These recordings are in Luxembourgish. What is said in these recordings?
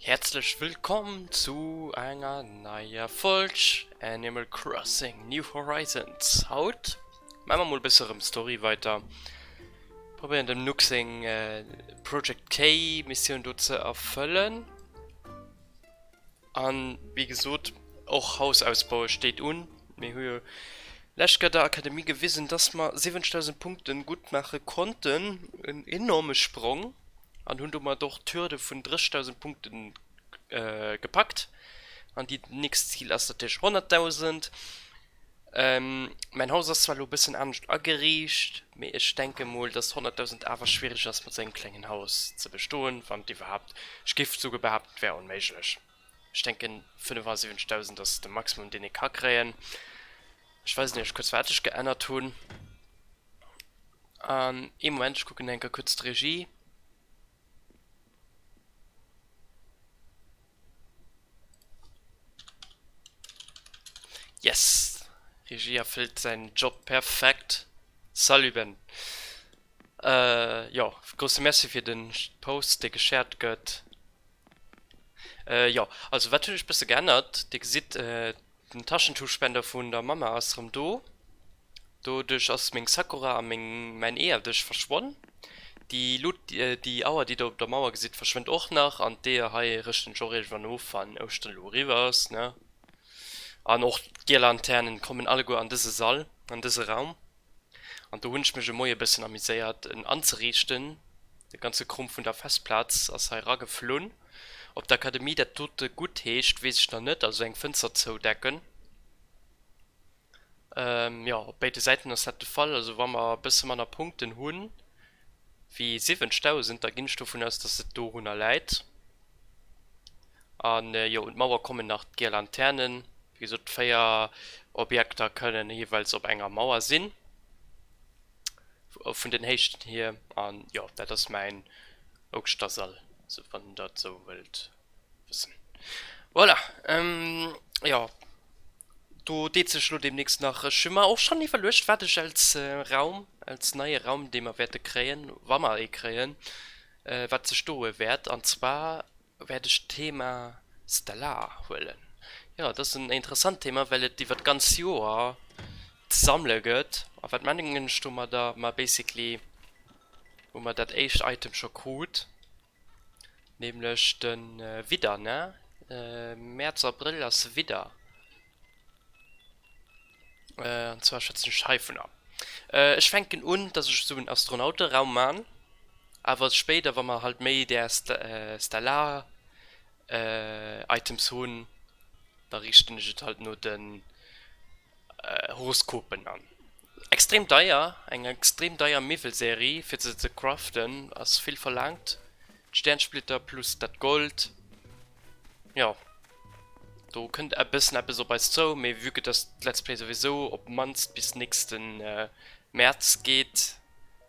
Herzlech wëllkomm zu enger neier Folg Animal Crossing New Horizons. Haut maache mer mol e bësse erëm Story weiter. Probéieren dem Nook seng Project K Missioun do ze erfëllen. An wéi gesot, och Hausausbaue steet un. Mir hu jo lescht Joer der Akademie gewisen, dass mer 70.000 Punkten gutt maache konnten, en enorme Sprong, an hunn domat och d'Hürde vun 30.000 Punkten gepackt. An déi nächst Zil ass natierlech 100.000. Mäin Haus ass zwar elo bëssen anescht ageriicht, mee ech denke mol dass 100.000 awer schwiereg ass mat sengem klengen Haus ze bestoen, wann iwwerhaapt. Ech géif souguer behaapten, et wär onméiglech. Ech denken 75.000 ass de Maximum deen ee ka kréien. Ech weisen iech kuerz wat ech geännert hunn. Ee Moment, ech kucken enker kuerz d'Regie. Yes! Regie erfëllt säin Job perfekt. Salut Ben! Jo, grousse Merci fir den Post dee geshared gëtt. Jo, also wat hunn ech bësse geännert, Dir gesitt. Den Taschentuchspender vun der Mamma ass rem do. Doduerch ass meng Sakura a meng mäin Eeër duerch verschwonn. Déi Luut, déi Auer déi der op der Mauer gesitt verschwënnt och nach an d'Eeër hei rëschten ech och iergendwann of wann Ouschteren elo eriwwer ass ne. An och d'Girlanternen kommen alleguer an dëse Sall, an dëse Raum. An do hunn ech mech e Moie bëssen amuséiert en anzeriichten. De ganze Krumm vun der Festplaz ass hei erageflunn. Ob d'Akademie dat dote gutt heescht, weess ech nach net, also eng Fënster zoudecken. Jo, op béide Säiten ass dat de Fall. Also wa mer e bësse manner Punkten hu wéi 70.000, da ginn ech dovun aus, dass et dorunner läit. An jo, un d'Mauer kommen nach d'Girlanternen. Wéi gesot, d'véier Objekter kënnen jeeweils op enger Mauer sinn, vun den Héichten hier. An jo, dat ass mäin Ouschtersall, sou wann der et sou wëllt wëssen. Voilà, jo, do deet sech elo deemnächst nach, ech hu mer och schonn iwwerluecht, wat ech als Raum, als neie Raum, dee mer wäerte kréien, wa mer ee kréien, wat sech doe wäert. An zwar wäert ech d'Thema Stellar huelen. Jo, dat ass en interessant Thema, well et iwwert d'ganz Joer ze sammele gëtt. A wat mengen ech domadder? Ma basically hu mer dat éischt Item scho krut, nämlech de Widder, ne? Mäerz, Abrëll ass Widder. Äh, an zwar schwätzen ech heivunner. Äh, ech fänken un, dass ech esou en Astronauteraum man, awer spéider, wa mer halt méi där stellar äh Items hunn, da riichten ech et halt no den Horoskopen an. Extrem deier, eng extrem deier Miwwelserie fir se ze craften ass vill verlaangt. D'Stärnsplitter plus dat Gold, jo do kënnt e bëssen eppes op eis zou, mee vue que dass d'Let's Play souwisou op d'mannst bis nächsten März geet,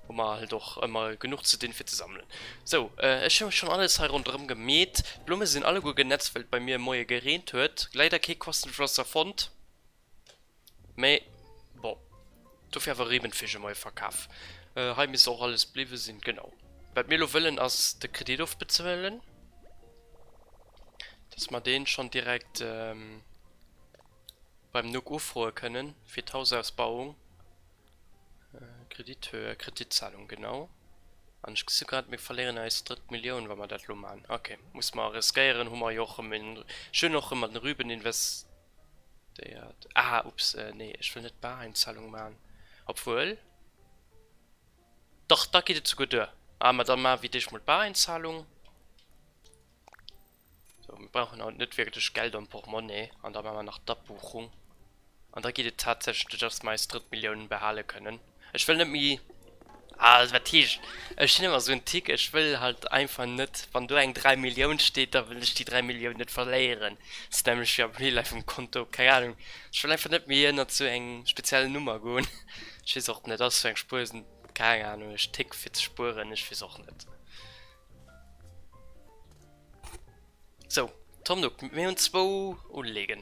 hu mer halt och ëmmer genuch ze dinn fir ze sammelen. Sou, ech hu schonn alles hei ronderëm gemeet, d'Blumme sinn alleguer genätzt well et bei mir e Moie gereent huet, leider kee Quastenflosser fonnt. Mais bon, dofir awer Riemenfisch um Euverkaf. Hei misst och alles bliwwe sinn, genau. Wat mir elo wëllen ass de Kredit ofbezuelen, dass mer dee schonn direkt beim Nuc ufroe kënnen, fir d'Hausausbauung. Kredithöhe, Kreditzahlung, genau. An ech gesi grad, mir verléieren eis drëtt Millioun, wa mer dat elo maachen. Ok, muss mer riskéieren, hu mer jo och erëm een, ech hunn och erëm an de Rüben invest, Déiert. Ah ups nee ech wëll net Bareinzahlung maan obwuel dach da geet et souguer duer ah ma dann maan wir dech mol Bareinzahlung sou mir brauchen haut net wirklech Geld am Portmonni an da maan mer nach d'Abbuchung an da geet et tatsächlech duer dass mer eis drëtt Milliounen behalen kënnen. Ech wëll net méi, ah wat heescht, ech sinn ëmmer sou en Tick, ech wëll halt einfach net, wann do eng 3 Millioun steet, da wëll ech déi 3 Millioun net verléieren, dat ass nämlech jo am Real Life um Konto, keng Anung, ech wëll einfach net méi ënnert sou eng speziell Nummer goen, ech weess och net, dat ass sou eng Spuersnummer, keng Anung, ech tick fir ze spueren, ech weess och net. Sou, Tom Nook, mir hunn zwou Uleeën.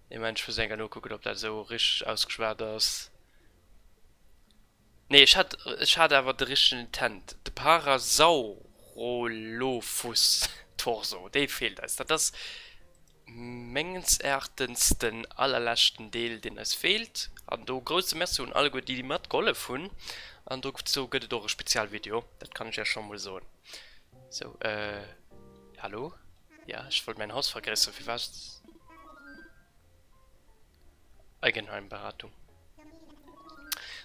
Nee Moment, ech muss eng Kéier nokucken ob dat esou richteg ausgeschwat ass. Nee ech hat, ech hat awer de richtegen Intent, de Parasaurolophus torso, dee feelt eis. Dat ass mengens Erachtens den allerleschten Deel deen eis feelt. An do grousse Merci un alleguer déi déi matgehollef hunn. An dozou gëtt et och e Spezialvideo, dat kann ech iech scho mol soen. Sou, hallo? Ja, ech wollt mäin Haus vergréisseren, firwat? Eigenheimberatung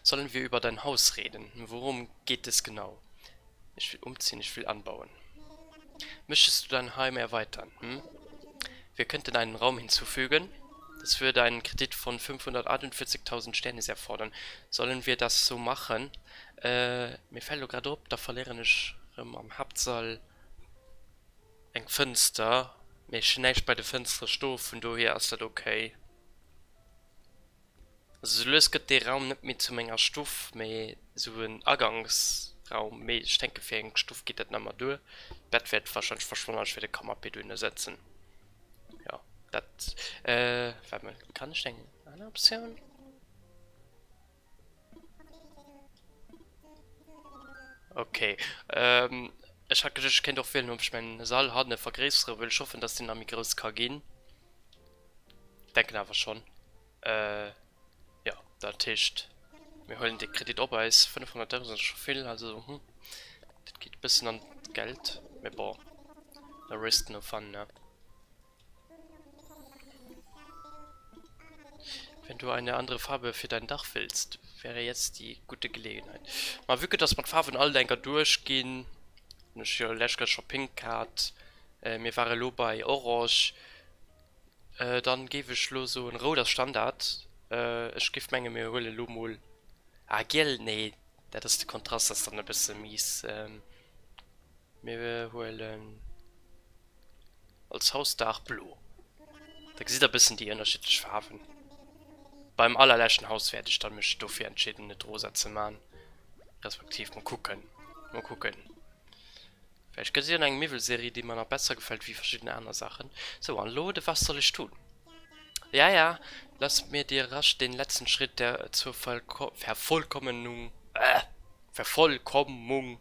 Sollen wir über dein Haus reden? Worum geht es genau? Ech will umziehen, ech will anbauen. Möchtest du dein Heim erweitern? Hm? Wir könnten einen Raum hinzufügen. Das würde einen Kredit von 548.000 Sternis erfordern. Sollen wir das so machen? Äh, mir fällt elo grad op, da verléieren ech rem am Haaptsall. Eng Fënster, mee ech hun näischt bei de Fënstere sto, vun dohier ass dat ok. Also sou lues gëtt dee Raum net méi zu menger Stuff, mee sou en Aganksraum, mee ech denke fir eng Stuff geet dat nemmer duer. D'Bett wäert wahrscheinlech verschwannen an ech wäert e Canapé duerno setzen. Jo dat, waart mol kann ech eng aner Optioun? Okay, ähm, ech hat geduecht ech kéint och wielen op ech mäin Sall hanne vergréissere wëll, ech hoffen dass deen nach méi grouss ka ginn, denken awer schonn. Euh, jo, dat heescht mir huelen dee Kredit op eis, 500 Euro sinn scho vill, also hm, dat geet e bëssen an d'Geld, mee bon, no risk no fun, ne. Wenn du eine andere Farbe für dein Dach willst, wäre jetzt die gute Gelegenheit. Ma vu que dass mer d'Farwen all enker duerch ginn, hunn ech jo lech grad scho Pink gehat, mir ware lo bei Orange, dann géif ech lo soen, Rout ass Standard, ech géif mengen mir huelen lo mol, ah Giel, nee dat ass, de Kontrast ass dann e bësse mies, mir huelen Als Hausdaach blo. Da gesitt der bëssen déi ënnerschiddlech Faarwen. Beim allerleschten Haus wäert ech dann mech dofir entscheeden et rosa ze man, respektiv mol kucken, mol kucken. Vläicht gëtt et jo nach eng Miwwelserie déi mer nach besser gefält wéi verschidden aner Saachen. Sou an elo de was soll ech dun? Ja ja lass mir dir rasch den letzten Schritt der zur Vervollkommnung, Vervollkommung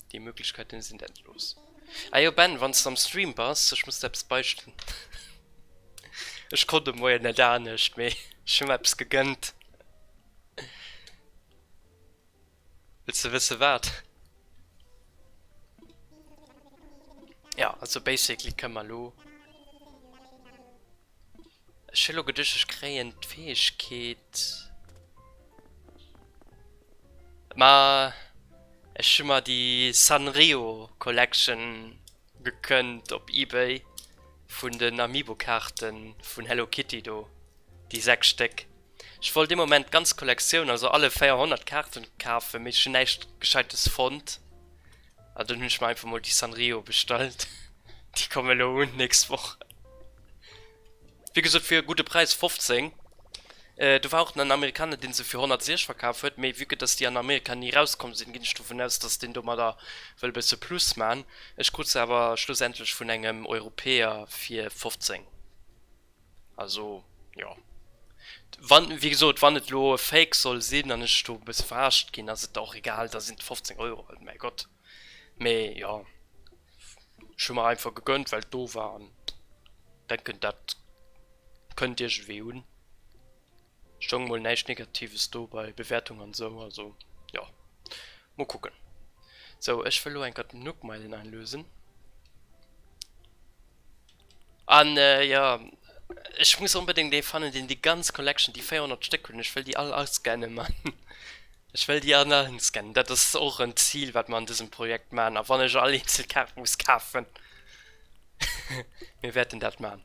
Déi Möglichkeiten sinn endlos. Ah jo Ben, wanns de am Stream bass, ech muss der eppes beistellen. Ech konnt de Moien net anescht, mee ech hunn mer eppes gegënnt. Wëlls de wësse wat? Jo, also basically kënn mer elo. Ech hun lo geduecht ech kréien d'Fäegkeet, ma ech hun mer déi Sanrio Collection gekënnt op Ebay vun den Amiibo Kaarte vun Hello Kitty do, déi 6 Stéck. Ech wollt dee Moment d'ganz Collectioun, also alle 400 Kaarte kafen, mee ech hun näischt gescheites fonnt. An dunn hunn ech mer einfach mol déi Sanrio bestallt. Déi komme lo un nächst Woch. Wéi gesot fir e gudde Präis, 15. Do war och den Amerikaner dee se fir 106 verkaf huet, mee vue que dass déi an Amerika ni rauskomm sinn, ginn ech dovun aus dass deen domadder wëll e bësse Plus man. Ech krut se awer schlussendlech vun engem Europäer fir 15. Also, jo. Wann, wéi gesot, wann et elo e Fake soll sinn an ech do e bësse verarscht ginn, ass et der och egal, da sinn et 15 Euro halt, mäi Gott. Mee jo, ech hu mer einfach gegönnt, well et do war an denken, dat kënnt iergendwéi un. Stoung emol näischt Negatives do bei Bewäertung an esou, also jo. Mol kucken. Sou ech wëll lo enker d'Nookmeilen einlösen. An jo ech muss onbedéngt ee fannen deen déi ganz Collection, déi 400 Stéck hunn, ech wëll déi all ascannen man. Ech wëll déi all ascannen. Dat ass och en Zil wat mer an dësem Projekt man a wann ech all eenzel Kaart muss kafen. Mir wäerten dat man.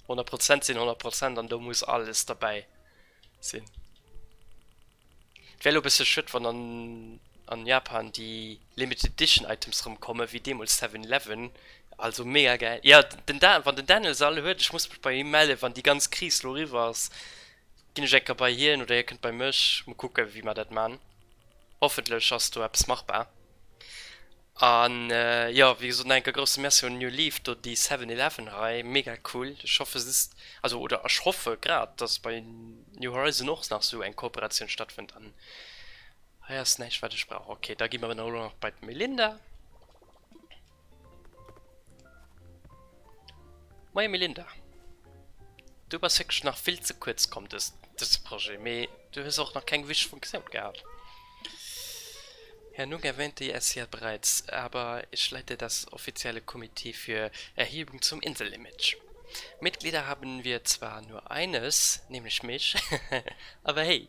100 Prozent sinn 100 Prozent an do muss alles derbäi. sinn. Et wär elo e bësse schued, wann an an Japan déi limited edition Items rëm komme wéi deemools Seven Eleven. Also mega gäil. Jo, den Da, wann den Daniel se all huet, ech muss mech bei him mellen, wann déi ganz Kris lo eriwwer ass, ginn ech eng Kéier bei hien oder hie kënnt bei mech. Muer kucke wéi mer dat man. Hoffentlech ass do eppes machbar. An jo wéi gesot nach enke grousse Merci un New Leaf do déi 7-Eleven hei mega cool. Ech hoffe se ist also oder ech hoffe grad dass bei New Horizon och nach sou eng Kooperatioun stattfënnt an hei ass näischt wat ech brauch. Ok da gi mer elo nach bei d'Melinda. Moie Melinda, du bass wierklech nach vill ze kuerz komm dëse Projet, mee du hues och nach keng Wisch vum Xeon gehat. Herr Nunn erwähnte es ja bereits, aber ich leite das offizielle Komitee für Erhebung zum Inselimage. Mitglieder haben wir zwar nur eines, nämlich mich, aber hey!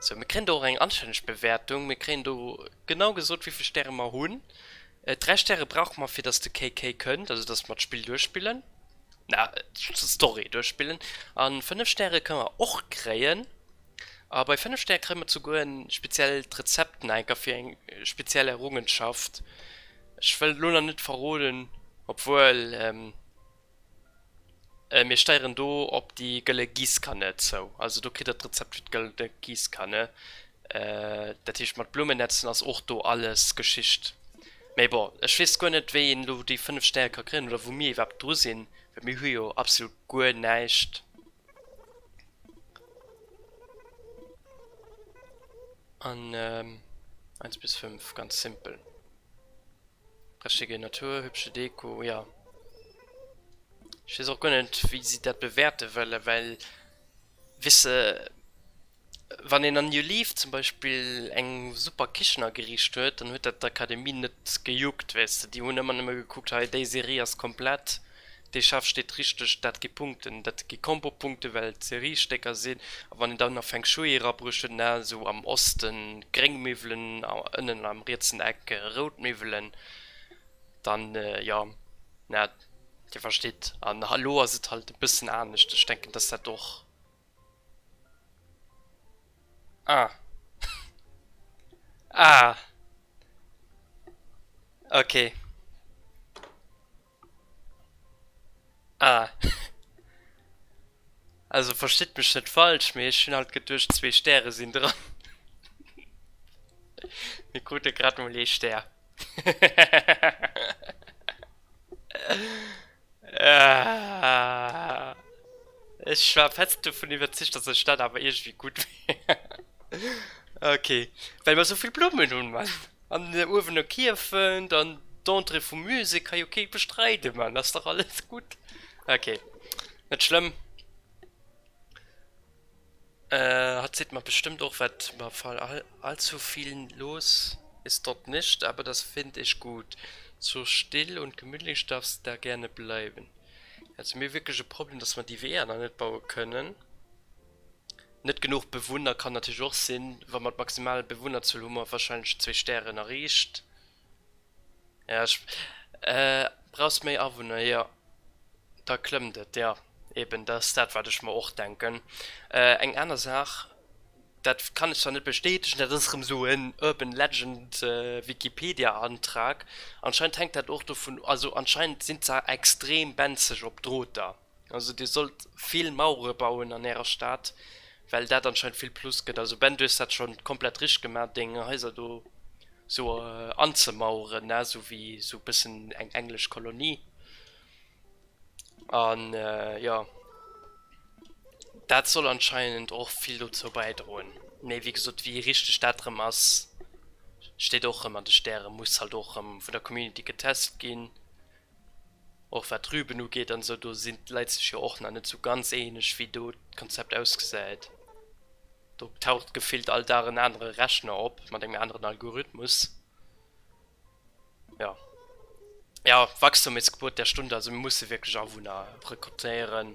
Sou, mir kréien do och eng anstänneg Bewäertung. Mir kréien do genau gesot, wéi vill Stäre mer hunn. Dräi Stäre brauche mer, fir datt de KK kënnt, also datt mer d'Spill duerchspillen, na, d'Story duerchspillen. A fënnef Stäre kënne mer och kréien. A bei fënnef Stäre kréie mer souguer e speziellt Rezept nach enker fir eng speziell Errungenschaft. Ech wëll elo nach net verroden, obwuel, Mir steieren do op déi gëlle Giesskanne zou. Also do kritt der d'Rezept fir d'gëlle Giesskanne. Dat heescht mat Blummen netzen ass och do alles Geschicht. Mee bon, ech weess guer net wéi een elo déi 5 Stäre ka kréien oder wou mir iwwerhaapt dru sinn, well mir hu jo absolut guer näischt. An 1 bis 5, ganz simpel. Richtige Natur, hübsche Deko, jo. Ech weess och guer net wéi si dat bewäerte wëllen, well weess de wann een an You Leave zum Beispill eng super Kichen ageriicht huet, dann huet dat d'Akademie net gejuckt, weess de. Déi hunn ëmmer nëmme gekuckt, hei déi Serie ass komplett, Dee Chef steet richteg, dat gi Punkten, dat gi Combo-Punkte well et Seriestécker sinn. A wann een dann nach Feng Shui erabruechen, na, esou am Oste gréng Miwwelen a ënnen am rietsen Eck rout Miwwelen, dann, jo, na, Dir verstitt. An elo ass et halt e bëssen anescht. Ech denken, dass dat och, ah, ah, okay. Ah. Also verstitt mech net falsch, mee ech hunn alt geduecht zwee Stäre sinn dran. Mir krute grad mol ee Stär. Ech war fest dovun iwwerzeegt, dass ech dat awer iergendwéi gutt. Ok, well mer souvill Blummen hunn, Mann. An den Uewener Kierfent an d'Entrée vum Musée ka jo kee bestreiden, mä ass dach alles gutt. Ok, net schlëmm. Hatt seet mer bestëmmt och wat mer fallen allzu viel los ist dort nicht, aber das find ich gut, so still und gemütlich darf se da gerne bleiben. Hätte mir wierklech e Problem, dass mer déi Weeër nach net baue kënnen. Net genuch Bewunner kann natierlech och sinn, wa mat maximal Bewunnerzuel hu mer warscheinlech zwee Stären erreecht. Jo, ech. Brauchs méi Awunner, jo, da klëmmt et. Jo, eben, dat ass dat, wat ech mer och denken. Eng aner Saach, dat kann ech zwar net bestätegen, dat ass erëm esou en urban legend, Wikipedia-Antrag, anscheinend hänkt dat och dovun, also anscheinend sinn d'Saach extrem benzeg op Droter. Also dir sollt vill Mauere bauen an ärer Stad, well dat anscheinend vill Plus gëtt. Also Ben, du hues dat schonn komplett richteg gemaach, deng Haiser do sou anzemaueren, ne, sou wéi sou bëssen eng englesch Kolonie. An jo, dat soll anscheinend och vill dozou bäidroen. Mee wéi gesot, wéi richteg dat erëm ass, steet och erëm an de Stären, muss halt och erëm vun der Community getest ginn. Och wat d'Rüben ugeet an esou, do sinn d'Leit sech jo och nach net esou ganz eeneg, wéi do d'Konzept ausgesäit. Do taucht gefillt all Dag en anere Rechner op mat engem aneren Algorithmus. Jo. Ja, Wachstum ist Gebot der Stunde, also mir musse wierklech Awunner rekrutéieren.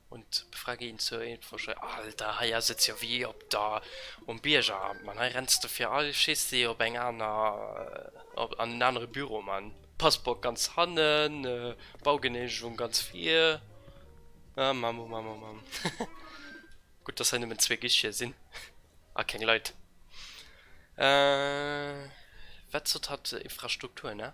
Un d'Befrage hin zur Info-Schei, Alter, hei ass et jo wéi op der um Biergeramt, Mann, hei renns de fir all Schissi op eng aner, op an en anere Büro, Mann, Passeport ganz hannen, Baugeneemegung ganz vir, ah, Mamm, oh Mamm, oh Mamm, gutt, dass hei nëmmen zwee Guicheten sinn a keng Leit, wat sot hatt, Infrastrukturen, ah.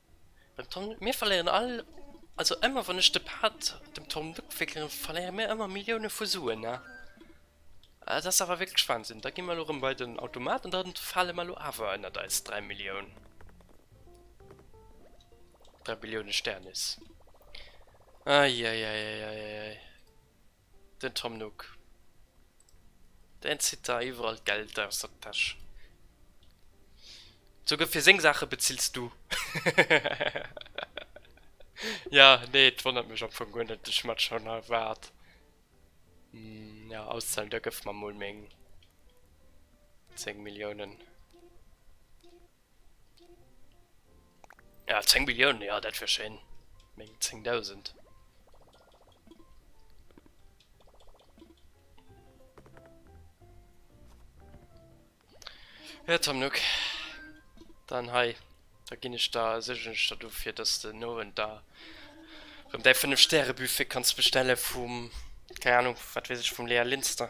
Den Tom, mir verléieren all, also ëmmer wann ech de Pad dem Tom Nook wéckelen, verléiere mir ëmmer Millioune vu Suen, ne? Et ass awer wierklech Wahnsinn. Da gi mer elo erëm bei den Automat an da fale mer elo awer ënnert eis dräi Millioun. Dräi Billioune Sternis. Eieieieieiei. Den Tom Nook, deen zitt der iwwerall d'Geld aus der Täsch. Souguer fir seng Saache bezills du. Ja, nee, et wonnert mech am Fong guer net, ech hat schonn erwaart, jo, auszahle, da gëff mer mol meng 10 Milliounen. Ja, 10 Milliounen, ja, dat wär schéin. Meng 10.000. Ja, Tom Nook. Dann hei. Da ginn ech da, sécheren ech der do, fir dass de den Owend da rëm däi 5 Stäre Buffet kanns bestelle vum, keng Anung, wat weess ech, vum Lea Linster.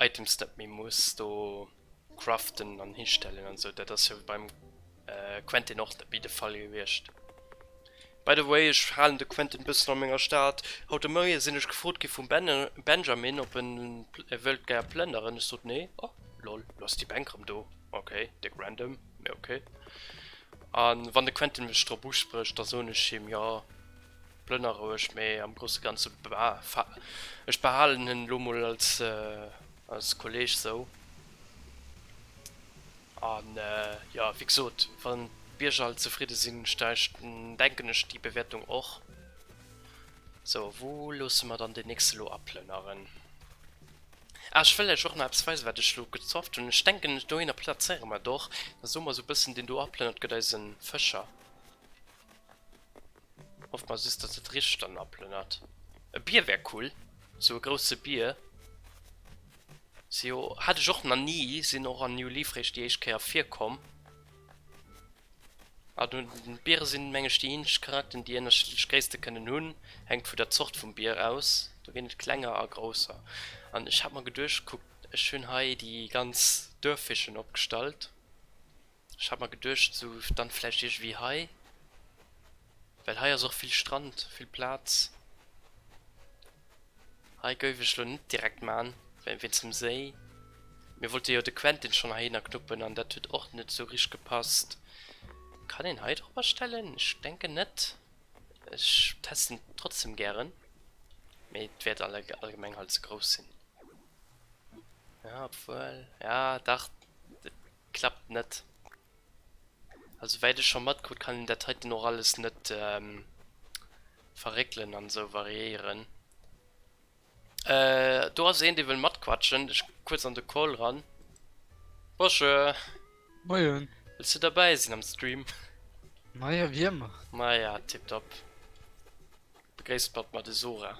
Items net méi muss do craften an histellen an sou, dat ass jo beim Quentin och net méi de Fall gewiescht. By the way, ech halen de Quentin bëssen an menger Stad. Haut de Moie sinn ech gefrot gi vum Benjamin op en wëllt gär plënneren, ech sot nee, oh lol lo ass déi Bänk rëm do, ok déck random mee ok. An wann de Quentin mech drop usprécht da soen ech him jo. Plënner roueg, mee am grousse ganze ech behalen en elo mol als Kolleeg esou. A jo, wéi gesot, wann d'Bierger all zefridde sinn, denken ech déi Bewäertung och. Sou, wou loosse mer dann deen nächste elo aplënneren? Ah, ech wëll lech och nach eppes weisen, wat ech elo gezofft hunn. Ech denken, dohinner plazéiere mer et och. Da soe mer esou e bëssen, deen do aplënnert gëtt eise Fëscher. Hofft mer just dass et richt dann aplënnert. E Bier wär cool, sou e grousse Bier. Si jo, hat ech och na ni, sinn och an New Leaf réischt déi éischt Kéier virkomm. A du, Biere sinn meng ech déi eenzeg Charakten déi ënnerschiddlech Gréisste kënnen hunn, hänkt vu der Zort vum Bier aus, do ginn et klenger a grousser. An ech hat mer geduecht, kuckt ech hunn hei déi ganz Duerffischen opgestallt. Ech hat mer geduecht sou dann vläicht iergewéi hei, well hei ass och vill Strand, vill Plaz. Hei gouf ech lo net direkt maan, well wéinst dem Séi. Mir wollte jo de Quentin schonn heihinner knuppen an dat huet och net sou richt gepasst. Kann een hei dropper stellen? Ech denken net. Ech testen trotzdem gären, mee et wäert allgemeng halt ze grouss sinn. Ja obwuel, ja dach. Klappt net. Also wäit ech scho matkrut kann een dat heiten och alles net verréckelen an esou variéieren. Do ass een dee wëll matquatschen, ech kucke kuerz an de Call ran. Bosche! Moien! Wëlls du derbäi sinn am Stream? Maja, wéi ëmmer. Maja, tipptopp. Begréisst mat mer de Sora.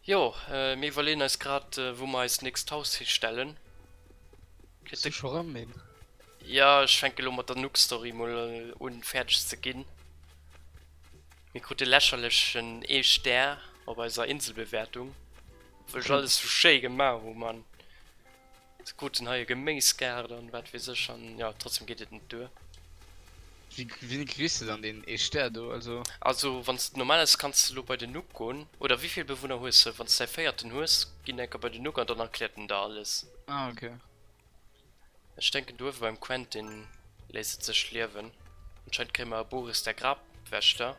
Jo, mir iwwerleeën eis grad, wou mer eist nächst Haus histellen. Kritt de scho ran een? Ja, ech fänke elo mat der Nookstory mol un fäerdeg ze ginn. Mir krute lächerlechen ee Stär op eiser Inselbewäertung, obwuel ech alles sou schéi gemaach hu, Mann. Se kruten hei e Geméisgaart an wat weess ech an jo trotzdem geet et net duer. Wéi wéini kriss de dann deen ee Stär do also? Also wanns de normal ass kanns de lo bei den Nuc goen oder wéivill Bewunner hues de? Wanns de däi véierten hues ginn enker bei den Nuc an dann erkläert en der alles. Ah ok. Ech denken do uewe beim Quentin léisst et sech liewen. Anscheinend kréie mer e Boris der Grabwächter.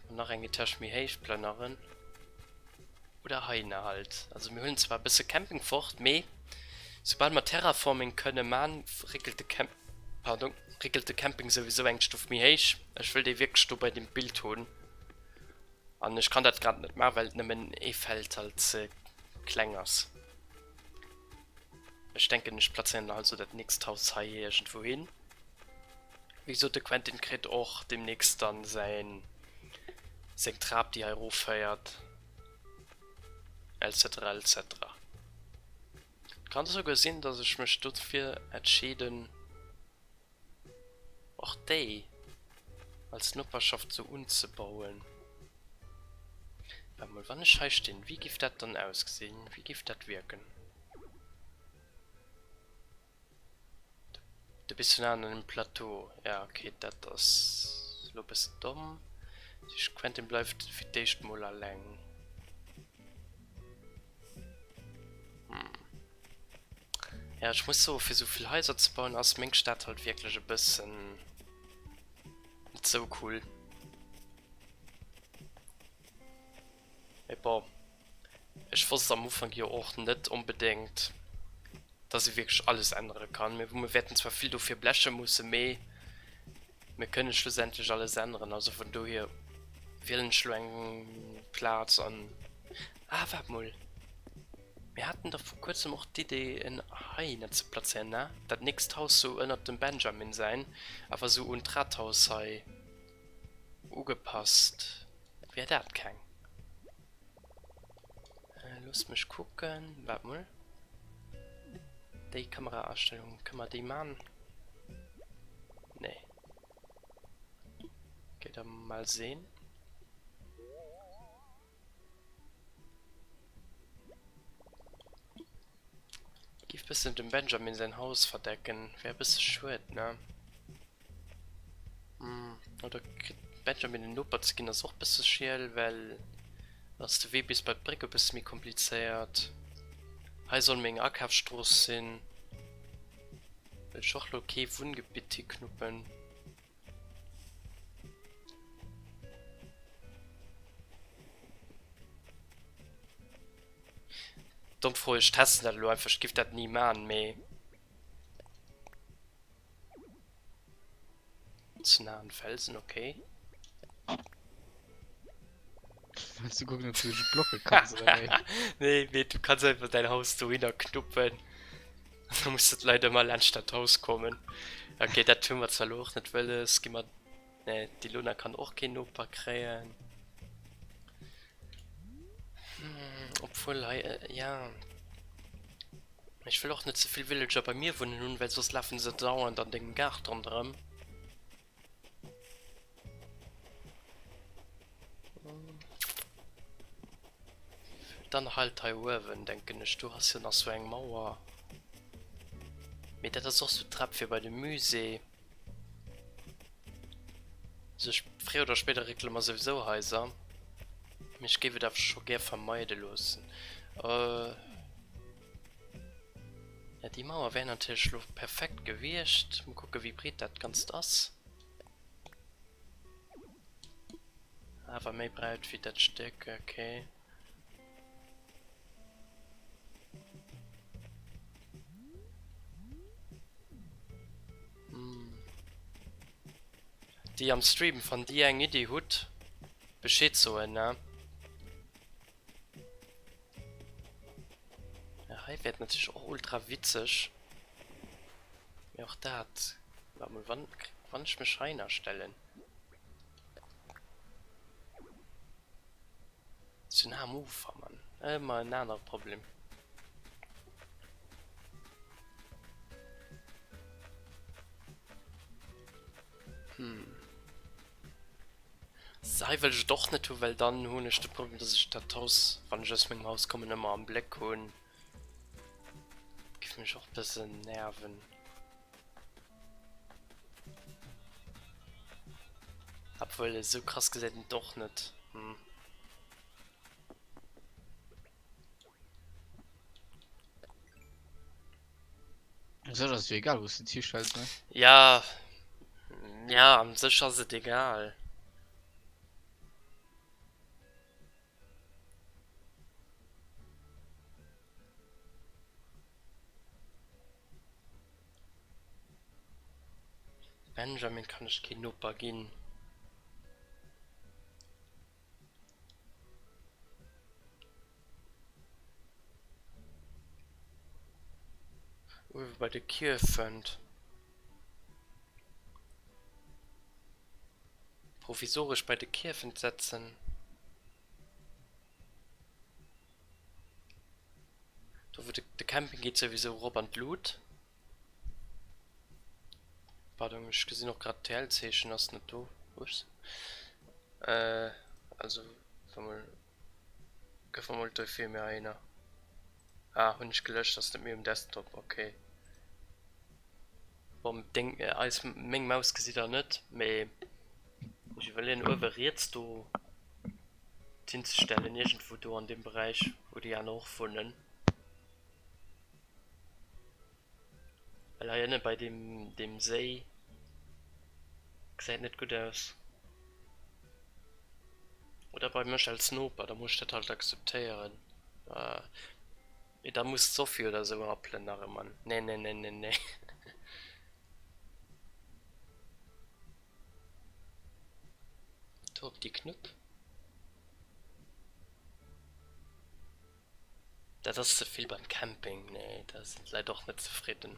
An nach eng Etage méi héich plënneren. Oder heihinner halt. Also mir huelen zwar e bësse Camping fort, mee soubal mer Terraforming kënne man, réckelt de Camp, pardon, réckelt de Camping souwisou eng Stuff méi héich. Ech wëll dee wierklech do bei dem Bild hunn. An ech kann dat grad net man, well nëmmen ee Feld halt ze kleng ass. Ech denken ech plazéieren halt sou dat nächst Haus hei iergendwou hin. Wéi gesot, de Quentin kritt och deemnächst dann säin, seng Trap, déi hei erofféiert, etc. Etc. Et kann esouguer sinn, dass ech mech dofir entscheeden, och déi als Noperschaft esou unzebauen. Waart mol, wann ech hei stinn, wéi géif dat dann ausgesinn? Wéi géif dat wierken? De bis vun aen an den Plateau, ja ok dat ass lo bessen domm. Tëscht Quentin bleift fir d'éischt mol alleng. Hm ja ech muss soen fir souvill Haiser ze bauen ass meng Stad halt wierklech e bëssen net sou cool. Mee bon, ech wosst am Ufank jo och net onbedéngt, dass ee wierklech alles ännere kann. Mee mir wäerten zwar vill dofir bleche mussen, mee mir kënne schlussendlech alles änneren. Also vun dohier wielen ech elo eng Plaz an. Ah, waart mol, mir haten dach vir kuerzem och d'Idee en hei hinnen ze plazéieren, ne? Dat nächst Haus sou ënnert dem Benjamin säin, awer sou un d'Rathaus hei. Ugepasst wär dat keng. Loosst mech kucken, waart mol, déi Kameraastellung, kënne mer déi man? Nee. Geet der mal seen. Giff bessen dem Benjamin sein Haus verdecken, wär bessen schued, ne? Hm, oder kritt Benjamin den Noper ze gin ass och bessen schiel, well dann ass de Wee bis bei d'Bréck e bessen méi komplizéiert. Hei soll meng Akafstross sin, well ech och lo kee Wunngebitt hiknuppen. Domm Fro, ech testen dat elo einfach, ech giff dat ni man mee ze nah un Felsen okay. Wëlls du kucken op du dech blocken kanns oder wéi? Nee mee du kanns einfach däin Haus dohinner knuppen. Du muss et leider mal laanscht dat Haus kommen. Okay, dat hunn mer zwar lo och net wëlles. Gi mer nee, d'Ilona kann och keen Noper kréien. Hm, obwuel hei äh, ja. Ech wëll och net ze vill Villager bei mir wunnen hunn, well soss lafe se dauernd an dengem Gaart ronderëm. Dann halt hei uewen, denken ech. Do ass jo nach sou eng Mauer. Mee dat ass och sou d'Trap fir bei de Musée. Also ech, fréier oder spéider réckele mer souwisou Haiser. Mee ech géif et awer scho gär vermeide loossen. Ja déi Mauer wär natierlech lo perfekt gewiescht. Mol kucke wéi breet dat Ganzt ass. Awer méi breit wéi dat Stéck, ok. Déi am Stream, wann dir eng Iddi hutt, Bescheed soen, ne? Ja, hei wär et natierlech och ultra witzeg, mee och dat, waart mol, wann, wann ech mech heihinner stellen, si se nah am Ufer, Mann, ëmmer en anere Problem. Hm. Hei wëll ech et och net hu well dann hunn ech de Problem dass ech dat Haus wann ech aus mengem Haus kommen ëmmer am Bléck hunn. Géif mech och e bësse nerven. Obwuel esou krass gesäit en et och net hm. So, das ist egal, wo du dich hinstellst, ne? Ja. Ja, an sich ist es egal. Benjamin kann ich kein Opa gehen. Uewe bei de Kierf fënnt. Provisoresch bei de Kierfen setzen. Do wou de Camping geet souwisou erop an d'Lut. Pardon, ech gesinn och grad d'TLZeechen ass net do. Ups. Also wa mol gëff mer mol d'Oe fir mir aénner. Ah hunn ech gelëscht, ass net méi um Desktop, ok. Bon deng eis meng Maus gesitt der net, mee ech iwwerleeën uewe riets do d'hinzestellen, iergendwou do an deem Beräich wou déi aner och wunnen. Well hei ënne bei deem deem Séi gesäit net gutt aus. Oder bei mech als Noper, da muss ech dat halt akzeptéieren. Mee da muss d'Sophie oder esou rappelen nach ëmmer. Nennennennenne. Do op déi Knupp. Dat ass ze vill beim Camping, nee da sinn d'Leit och net zefridden.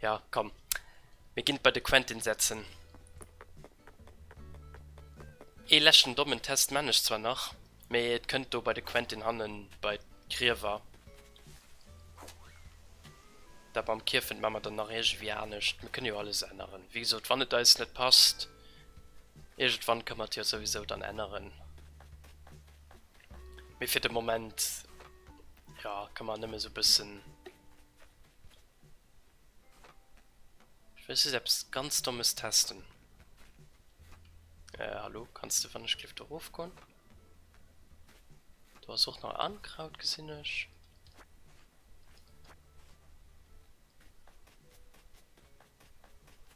Jo komm, mir ginn et bei de Quentin setzen. Ee leschten dommen Test man ech zwar nach, mee et kënnt do bei de Quentin hannen bei d'Griewer. Dat mam Kiefen maan mer dann nach iergendwéi anescht, mir kënne jo alles änneren, wéi gesot wann et eis net passt. Iergendwann kënnt mer jo souwisou dann änneren. Mee fir de Moment, jo, kënnt mer nëmme sou bëssen. Ech wëll just eppes ganz Dommes testen. Äh, hallo, kanns de wann ech cliff do rof goen? Do ass och nach Ankraut gesinn ech.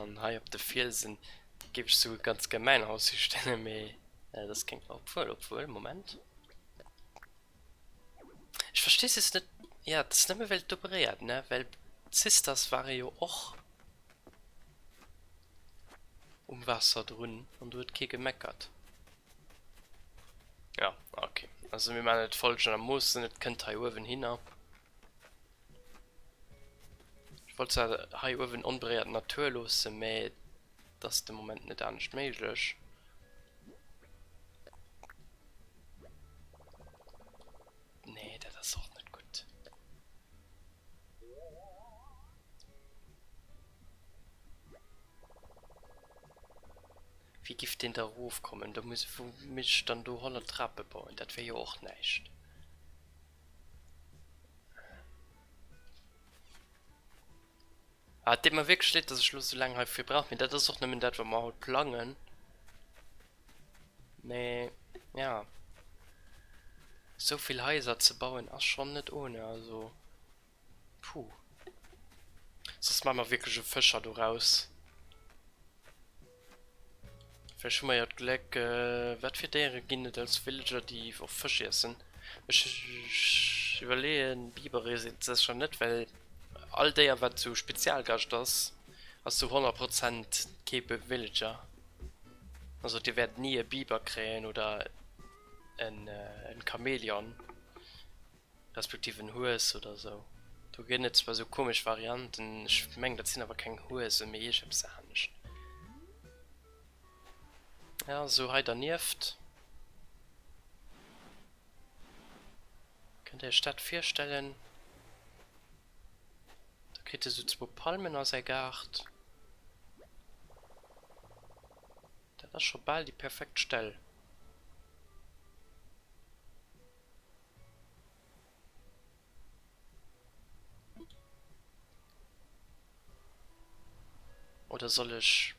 An hei op de Fielsen géif ech souguer ganz gär mäin Haus histellen, mee dat ass keng. Obwuel, obwuel, Moment. Ech verstee es just net. Jo, et ass nëmme well et do beréiert, ne? Well d'Sisters ware jo och um Waasser drun an do huet kee gemeckert. Jo, ok, also mir maachen et folgendermoossen, et kënnt hei uewen hinner. Ech wollt zwar hei uewen onberéiert d'Natur loossen, mä et ass de Moment net anescht méiglech. Nee, dat ass och net gutt. Wéi giff deen da erofkommen? Do muss, wou misst ech dann do 100 Trape bauen? Dat wär jo och näischt. Ah, et deet mer wierklech leed, dass ech elo esou laang heifir brauch, mee dat ass och nëmmen dat, wat mer haut plangen. Mee ja, esou vill Haiser ze bauen ass schonn net ohne, also. Puh. Soss maache mer wierklech e Fëscher doraus. Vläicht hu mer jo d'Gléck. Wat fir Déiere ginn et als Villager, déi och Fësch iessen? Ech iwwerleeën, Bibere sinn et sécher net, well all Déier, wat esou Spezialgast ass, ass zu 100 Prozent kee Villager. Also Dir wäert ni e Biber kréien oder en Chamäleon. Respektiv en Hues oder esou. Do ginn et zwar esou komesch Varianten, ech mengen dat sinn awer keng Huese mee iergeps anescht. Jo esou hei dernieft. Kënnt der iech dat virstellen? Da kritt e sou zwou Palmen a säi Gaart. Dat ass scho bal déi perfekt Stell. Oder soll ech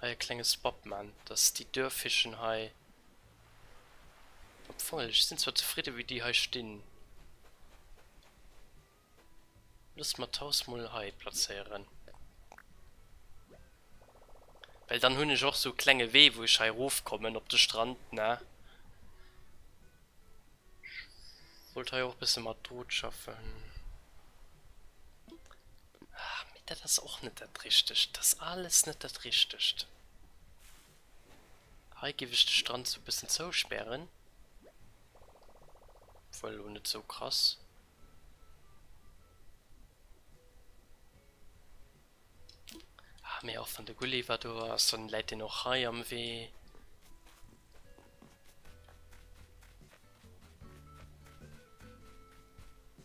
hei e klenge Spot man, dass déi Dörfischen hei, obwuel ech sin zwar zefridde wéi déi hei stin. Loosse mer d'Haus mol hei plazéieren. Well dann hunn ech och sou klenge Wee wou ech hei rof kommen op de Strand, ne? Ech wollt hei och e bësse mat Drot schaffen. Ah, mee dat ass och net dat Richtegt. Dat ass alles net dat Richtegt. Hei géif ech de Strand sou e bëssen zouspären. Obwuel elo net sou krass. Ah, mee och wann de Gulliver do ass, dann läit deen och hei am Wee.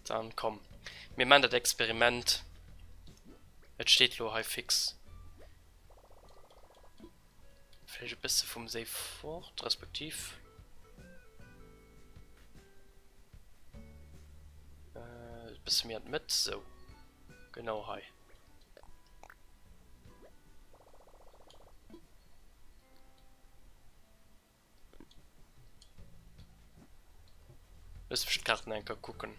Dann komm, mir man dat Experiment. Et steet lo hei fix. Vläicht e bësse vum Séi fort, respektiv. Äh, bësse méi an d'Mëtt, sou. Genau hei. Looss mech d'Kaart nach eng Kéier kucken.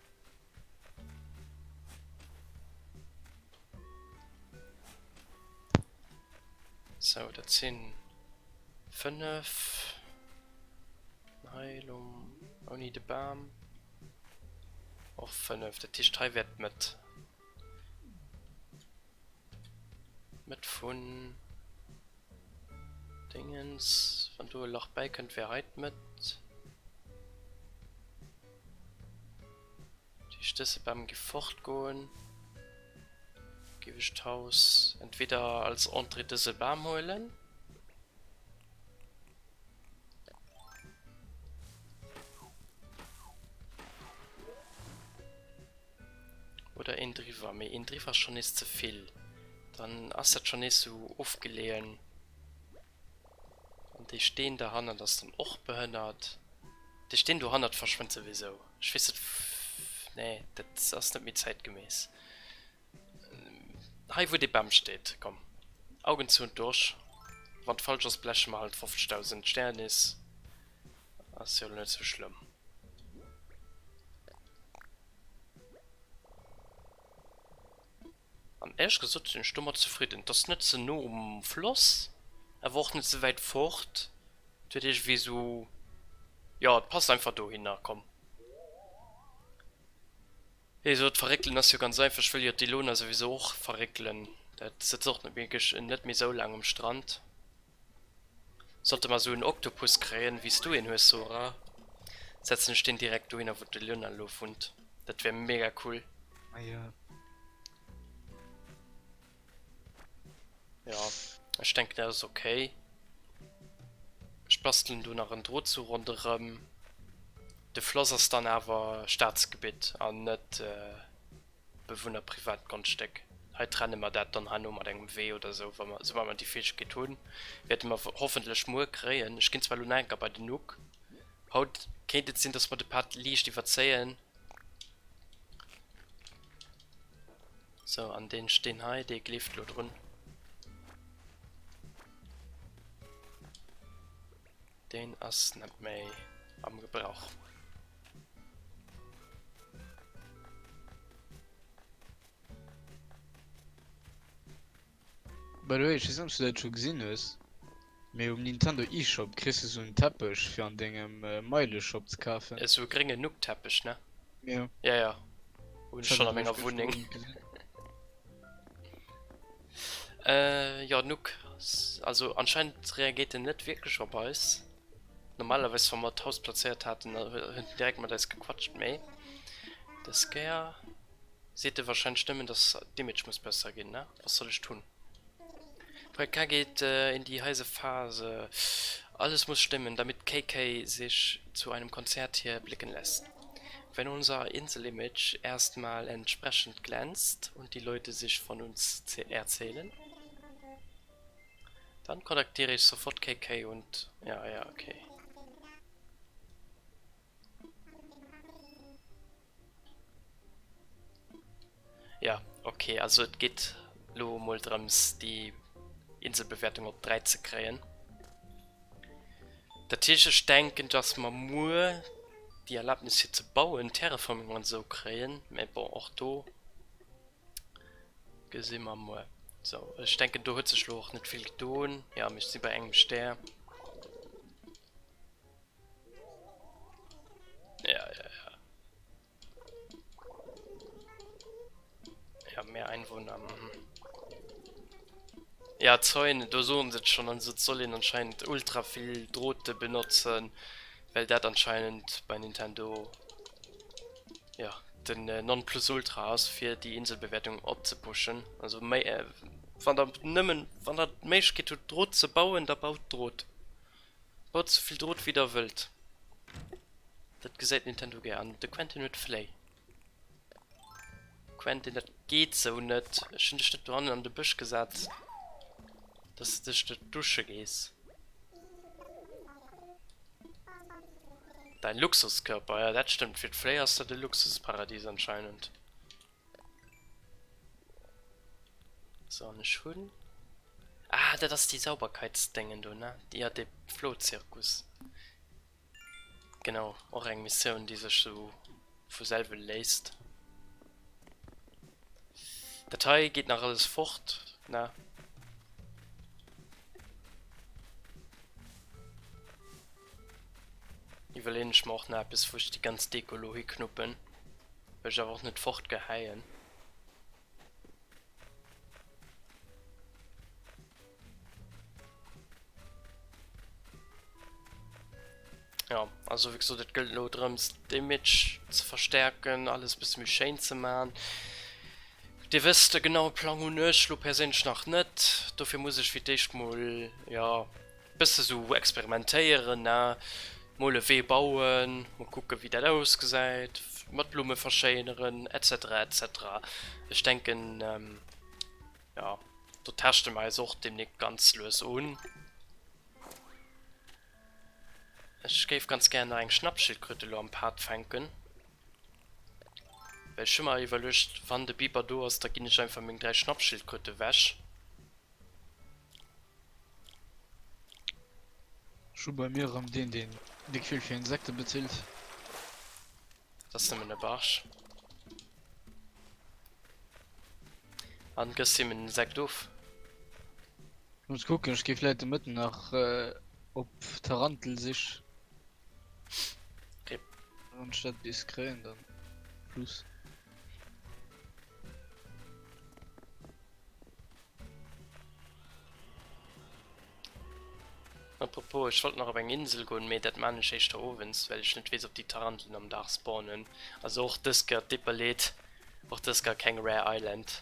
So, dat sinn 5 Heilung ouni de Bam och 5 dat heescht hei wäert mat mat vun Déngens wann do e Lach bäikënnt wär hei d'Mëtt. Déi stësse Bam gi fort goen. Géif ech d'Haus entweder als Entrée dëse Bam huelen. Oder een driwwer, mee een driwwer ass schonn nees ze vill. Dann ass dat schonn nees esou ofgeleeën. An dee Steen do hannert ass dann och behënnert. Dee Steen do hannert verschwënnt souwisou. Ech weess net w-. Nee, dat ass net méi zäitgemäss. Hei, wou dee Bam steet. Komm, Augen zou und durch. Wann d'falsch ass, bleche mer halt 50.000 Sternis. Ass jo elo net sou schlëmm. An éierlech gesot sinn ech domat zefridden. Et ass net ze no um Floss, awer och net ze wäit fort. Et huet iergendwéi esou, jo, et passt einfach dohinner. Komm, wéi ee sot, verréckelen ass jo ganz einfach. Ech wëll jo d'Ilona souwisou och verréckelen. Dat sëtzt och net méi esou laang um Strand. Sollte mer esou en Oktopus kréien wéi s du een hues Zora, setzen ech deen direkt dohinner wou de Lionel lo wunnt. Dat wär mega cool. Ah jo. Jo, ech denken dat ass ok. Ech bastelen do nach en Drohtzuch ronderem. De Floss ass dann awer Staatsgebitt an net. Bewunner privat Grondstéck. Hei trenne mer dat dann herno mat engem Wee oder esou, wa mer, soubal mer déi Fäegkeet hunn, wäerte mer hoffentlech muer kréien, ech ginn zwar elo nach enker bei den Nuc, haut kéint et sinn, dass mer de Pad liicht iwwerzéien, sou, an dee Steen hei, dee kleeft elo drun, deen ass net méi am Gebrauch. By the way, ech wees net ob s du dat scho gesinn hues, mee um Nintendo eShop kriss du soen Teppech fir an dengem Meileshop ze kafen. Esou e grénge Nook-Teppech, ne? Jo. Jo, jo. Hunn ech schonn a menger Wunneng. Jo, Nook, also anscheinend reagéiert en net wierklech op eis. Normalerweis wa mer d'Haus plazéiert haten, da hunn déi direkt mat eis gequatscht, mee des Kéier seet de warscheinlech nëmmen, dass d'Image muss besser ginn, ne? Wat soll ech tun? Projekt K geht in die heiße Phase, Alles muss stimmen, damit KK sich zu einem Konzert hier blicken lässt. Wenn unser Insel-Image erst mal entsprechend glänzt und die Leute sich von uns erzählen. Dann connecteer ech sofort KK und ja ja ok. Ja ok also et geet lo mol drëms déi Inselbewertung op 3 ze kréien. Dat heescht ech denken dass mer muer déi Erlaabnis fir ze bauen, Terraforming an esou kréien, mä bon och do. Gesi mer muer. Sou, ech denken do huet sech lo och net vill gedoen. Jo, ech si bei engem Stär. Jo, jo, jo. Hab méi Einwohner. Mhm. Jo, d'Zäune, do soen se et schonn. Also et soll een anscheinend ultra vill Drote benotzen, well dat anscheinend bei Nintendo. jo den non plus ultra ass fir déi Inselbewäertung opzepushen, also méi wann der nëmmen wann der d'Méiglechkeet hutt Drot ze bauen, da baut Drot, baut souvill Drot wéi der wëllt, dat gesäit Nintendo gär an de Quentin huet Fléi. Quentin dat geet sou net, ech hunn dech net dohannen an de Bësch gesat, dass de dech do dusche gees. Dein Luxuskörper, ja dat stëmmt, fir d'Fléi ass dat e Luxusparadies anscheinend. So an ech hunn... Ah dat ass déi Sauberkeitsdéngen do ne? Jo dee Flohzirkus. Genau, och eng Missioun déi sech sou vu selwe léisst. Dat hei geet nach alles fort, ne? Iwwerleeën ech mer och nach eppes, wou ech déi ganz Deko elo hiknuppen, well ech awer och net fortgehäien. Ja, also wie gesagt, das gilt nur darum, das Image zu verstärken, alles ein bisschen mehr schön zu machen. Dir wisst, den genauen Plan habe ich persönlich noch nicht. Dafür muss ich für das erste Mal, ja, Bësse sou experimentéieren, ne? Mol e Wee bauen, mol kucke wéi dat ausgesäit, mat Blumme verschéineren etc etc. Ech denken, jo, do teschte mer eis och demnächst ganz lues un. Ech géif ganz gär nach eng Schnappschildkröt elo am Pad fänken. Well ech hu mer iwwerluecht, wann de Biber do ass, da ginn ech einfach meng 3 Schnappschildkröt ewech. Ech hu bei mir erëm deen, deen déck vill fir Insekte bezilt. Dat ass nëmmen e Barsch. An gëss him en Insekt of. Ech muss kucken, ech gi vläit de Mëtten nach op Tarantelsich. Wann ech dat bis kréien, dann plus. Apropos, ech wollt nach op eng Insel goen, mee dat maan ech éischter owends, well ech net wees op déi Taranteln am Daag spawnen. Also och dës Kéier d'Dipperlét, och dës Kéier keng Rare Island.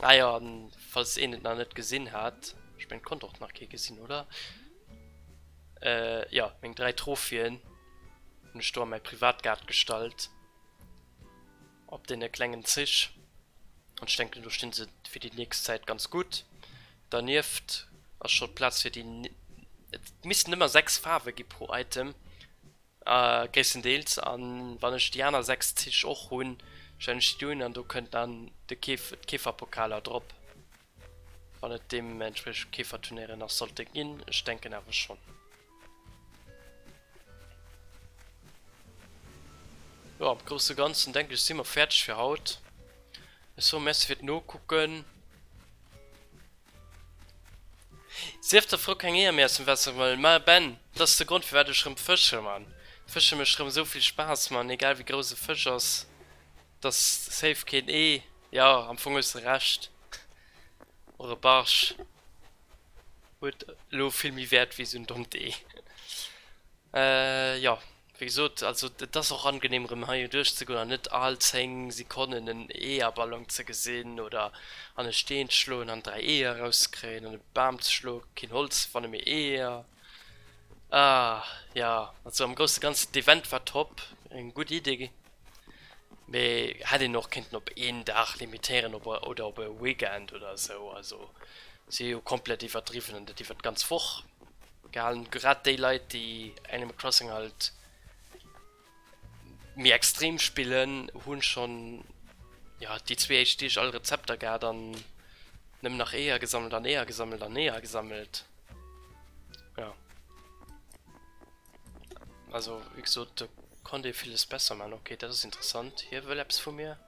Ah ja, falls een et nach net gesinn hat, ech mengen et konnt och nach kee gesinn, oder? Äh, jo, meng 3 Trophyen hunn ech do a mäi Privatgaart gestallt, op deene klengen Zich, an ech denken do stinn se fir déi nächst Zäit ganz gutt. Dernieft ass scho Plaz fir déi, et missten ëmmer 6 Faarwe gi pro Item. Gréisstendeels. A wann ech déi aner 6 Zich och hunn, stellen ech déi do un an do kënnt dann de Keef, d'Keeferpokaler drop, wann et deementspriechend Keeferturnéiere nach sollte ginn. Ech denken awer schonn. Jo, am Grousse Ganzen, denke ech, si mer fäerdeg fir haut. Ech soe Merci fir d'Nokucken. Sief der Fro keng Eeër méi aus dem Wässer geholl, ma Ben, dat ass de Grond firwat ech rëm fësche, man. Fësche mécht rëm esou vill Spaass, man, egal wéi grouss e Fësch ass, et ass safe keen Ee, jo, am Fong hues de Recht, och e Barsch huet elo vill méi Wäert wéi esou en dommt Ee, jo. Wéi gesot, also et ass och angenehm erëm hei duerch ze goen an net all 10 Sekonnen en Eeërballon ze gesinn oder an e Steen ze schloen an 3 Eeër eraus ze kréien, an e Bam ze schloen, keen Holz fannen, mee Eeër. Ah ja, also am grousse ganzen d'Event war top, eng gutt Idee, mee hätt een och kéinten op een Dag limitéieren op e oder op e Weekend oder esou, also si hu komplett iwwerdriwwen an dat iwwert d'ganz Woch. gehalen, grad déi Leit déi Animal Crossing halt méi extrem spillen hunn schonn jo déi zwee éischt Deeg all Rezepter gehat an nëmmen nach Eeër gesammelt an Eeër gesammelt an Eeër gesammelt. Jo. Also wéi gesot do konnt ee villes besser maan. Ok dat ass interessant, hie wëll eppes vu mir.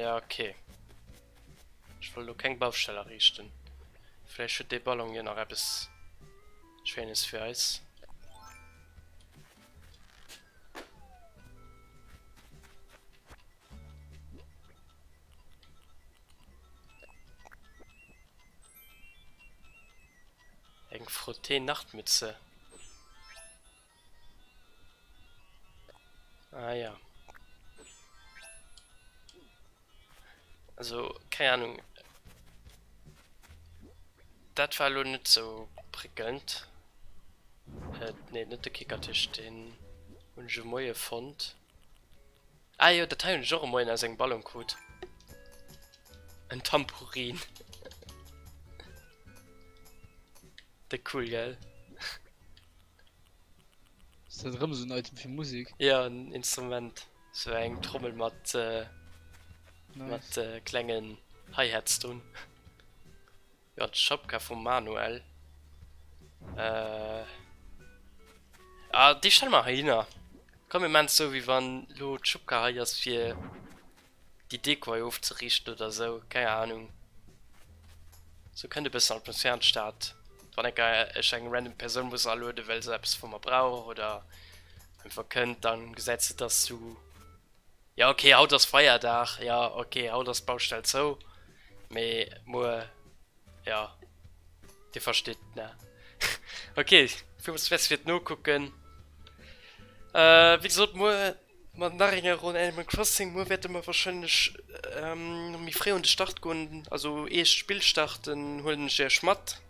Ja, okay. Ech wollt elo keng Baustell ariichten. Vläicht huet dee Ballon jo nach eppes Schéines fir eis. Eng Frottee-Nachtmütze. Ah ja. Also, keine Ahnung. Das war lo net so prickelnd. Äh, nee, net de Kickertisch, den hun ech e Moie fond. Ah jo, dat hei hun ech och e Moien aus engem Ballon krut. En Tampurin. De cool, gell? Ist dat rëm so en Item fir Musik? Ja, en Instrument. So eng Trommel mat, äh, nice. mat äh, klengen Hi-Hats drun. Ja, d'Schapka vum Manuel. Äh, ah, déi stelle mer heihinner. Komm, mir maachen et esou, wéi wann elo d'Schupka hei ass, fir déi Deko hei ofzeriichten oder esou, keng Ahnung. Sou kënnt e bëssen Atmosphär an d'Stad, wann enker ech eng random Persoun muss alueden, well se eppes vu mer brauch oder einfach kënnt, da gesäit se dass du, jo ok haut ass Feierdag, jo ok haut ass d'Baustell zou, mee muer. Ja. Dir versteet, ne? Okay, villmools Merci fir d'Nokucken. Äh, wéi gesot, muer mat nach enger Ronn Animal Crossing. Muer wäerte mer warscheinlech ähm, méi fréi un de Start goen. Also ee Spill starten, huelen ech Iech mat.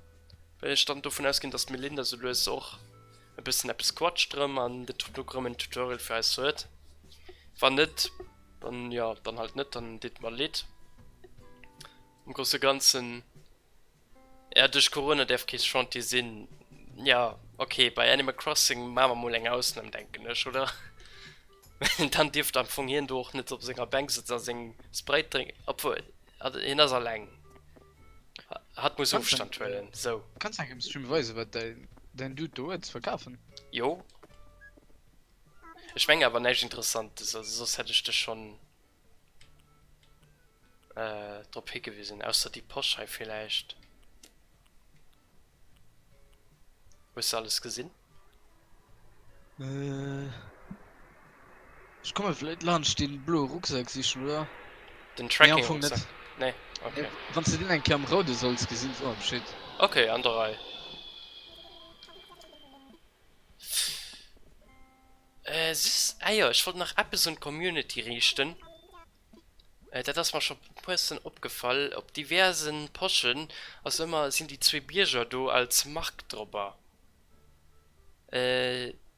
Well ech dann dovun ausginn, dass d'Melinda sou lues och e bëssen eppes quatscht rëm an de Toto rëm en Tutorial fir eis huet. Wann net, dann ja, dann halt net, dann deet mer leed. Am grousse Ganzen, ja duerch Corona däerf kee Chantier sinn. Jo, ok, bei Animal Crossing maache mer mol eng Ausnam, denken ech, oder? Mee dann dierft am Fong hien do och net op senger Bänk sëtzen a seng Sprite drénken. Obwuel, hien ass alleng, hatt muss Ofstand huelen. Sou. Kanns engem Streamer weisen, wat däin Dude do huet ze verkafen? Jo. Ech mengen awer näischt Interessantes, also soss hätt ech dech schonn. äh, drop higewisen, ausser déi Posch hei villäicht. Hues de alles gesinn? Äh, ech komme vläit laanscht dee bloe Rucksak sichen, oder? Den Tracking-Rucksak? Nee, okay. Äh, wann s de deen eng Kéier am Roude solls gesinn, soe mer Bescheed. Okay, an der Rei. Süss Äier, ech wollt nach eppes un d'Community riichten, dat ass mer scho muessen opgefall, op diverse Poschen ass ëmmer, sinn déi zwee Bierger do als Mark drobber,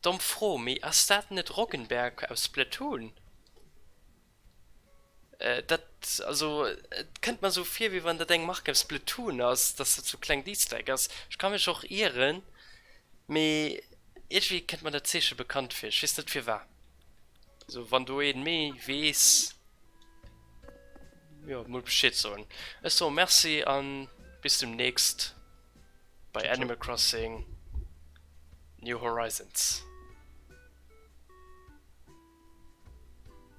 domm Fro, mee ass dat net Roggenberg aus Splatoon? Dat also et kënnt mer esou vir wéi wann dat eng Mark beim Splatoon ass, dass dat sou klengt Easter Egg ass. Ech ka mech och ieren, mee iergwéi kënnt mer dat Zeeche bekannt vir. Ech weess net firwar. Also wann do een méi weess, jo mol Bescheed soen. Ech soe Merci an bis demnächst bei Animal Crossing New Horizons.